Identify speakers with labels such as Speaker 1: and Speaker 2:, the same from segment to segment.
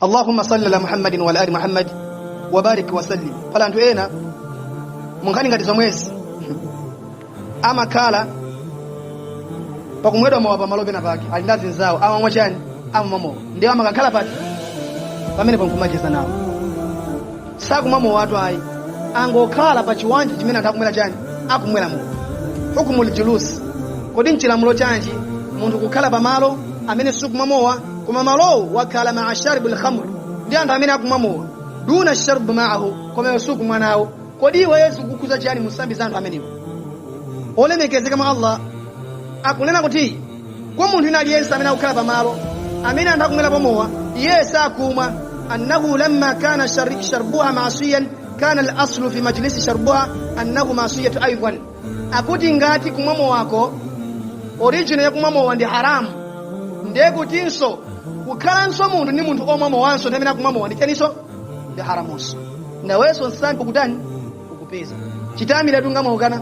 Speaker 1: Allahumma salli ala Muhammadin wa ala ali Muhammad wa barik wa sallim pala anthu ena munkhani ngati zomwezi amakhala pakumwedwa mowa pamalo pena pake ali ndi anzawo amamwa chani amamwa mowa ndiye amakakhala pati pamene pankumacheza nawo sakumwa mowatu ayi angokhala pa chibwanja chimene anthu akumwera chani akumwera mowa hukumul julusi kodi nchilamulo chanji munthu kukhala pa malo amene sikumwa mowa koma malowo wakhala maa sharibu lkhamr ndi anthu amene akumwa mowa duna sharbu maahu koma iwe sukumwa nawo kodi iweyo zikukukhuza chiyani musambi za anthu amenewo olemekezeka mwa allah akunena kuti kwa munthu wina aliyense amene akukhala pamalo amene anthu akumwerapo mowa iye sakumwa annahu lamma kana shar- sharbuha masiyan kana al-aslu fi majlisi sharbuha annahu masiyatu aidan akuti ngati kumwa mowako original yakumwa mowa ndi haramu ndiye kutinso kukhalanso munthu ndi munthu omwa mowanso ndi amene akumwa mowa ndi chaninso ndi haramunso nawenso nsambi ukutani ukupeza chitamira tu ngati mwaukana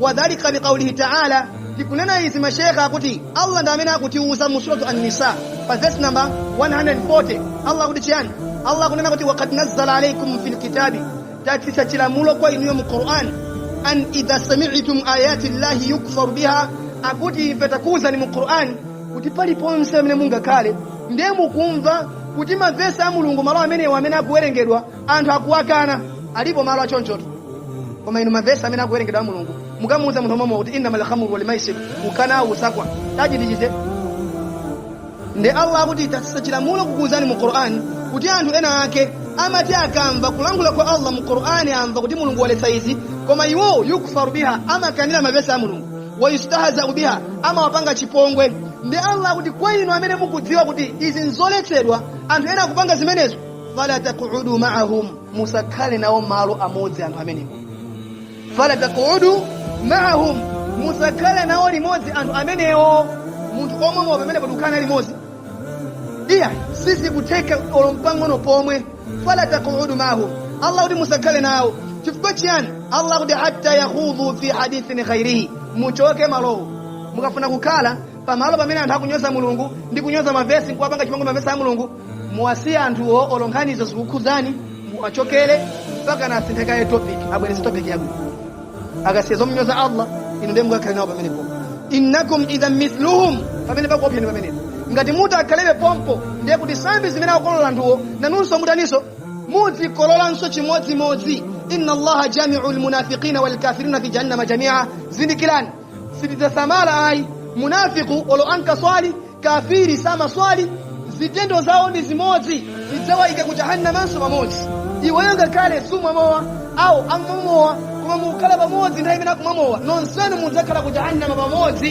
Speaker 1: wadhalika liqaulihi taala tikunena izi mashekha akuti allah ndi amene akutiuza mu suratu an-nisa pa verse number 140 allah akuti chiyani allah akunena kuti wakad nazzala alaikum fi lkitabi tatsitsa chilamulo kwa inuyo mu qur'an an idha sami'tum ayati llahi yukfaru biha akuti ife takuuzani mu qur'an kuti paliponse amene mungakhale ndiye mukumva kuti mavesi a mulungu malo amenewa amene akuwerengedwa anthu akuwakana alipo malo achonchotu koma inu mavesi amene akuwerengedwa a mulungu mukamuuza munthu momwe kuti innama lkhamru walmaisir ukanawo usakwa tachitichite nde allah akuti tatsitsa chilamulo kukuuzani mu qur'ani kuti anthu ena ake amati akamva kulankhula kwa allah mu qur'ani amva kuti mulungu waletsa izi koma iwowo yukfaru biha amakanira mavesi a mulungu wayustahzau biha amawapanga chipongwe nde allah akuti kwa inu amene mukudziwa kuti izi nzoletsedwa anthu ena akupanga zimenezo fala taqudu ma'ahum musakhale nawo malo amodzi anthu amenewo fala taqudu ma'ahum musakhale nawo limodzi anthu amenewo munthu omwa mowa pamene padzakhala limodzi iya sizikutheka olo mpang'ono pomwe fala taqudu ma'ahum allah kuti musakhale nawo chifukwa chiyani allah kuti hatta yakhudhu fi hadithin ghairihi muchoke malowo mukafuna kukhala pamalo pamene anthu akunyoza mulungu ndi kunyoza mavesi nkuwapanga chipongwe mavesi a mulungu muwasiye anthuwo olo nkhanizo zikukhudzani muwachokere mpaka nasinthe kaye topic abwerese topic yabwino akasiye zomunyoza allah inu ndiye mukakhale nawo pamenepo innakum idhan mithluhum pamenepa kuopsya ni pamenepo ngati mutakhalebe pompo ndiye kuti sambi zimene akukolola anthuwo nanunso mutaninso muzikololanso chimodzimodzi inna allaha jamiu lmunafiqina walkafirina fi jahannama jamia zindikirani sitidzasamala ayi munafiku olo ankaswali kafiri samaswali zitendo zawo ndi zimodzi tidzawaika ku jahannamanso pamodzi iweyo ngakhale sumwa mowa awo akumwa mowa koma mukukhala pamodzi nthawi imene akumwa mowa nonsenu mudzakhala ku jahannama pamodzi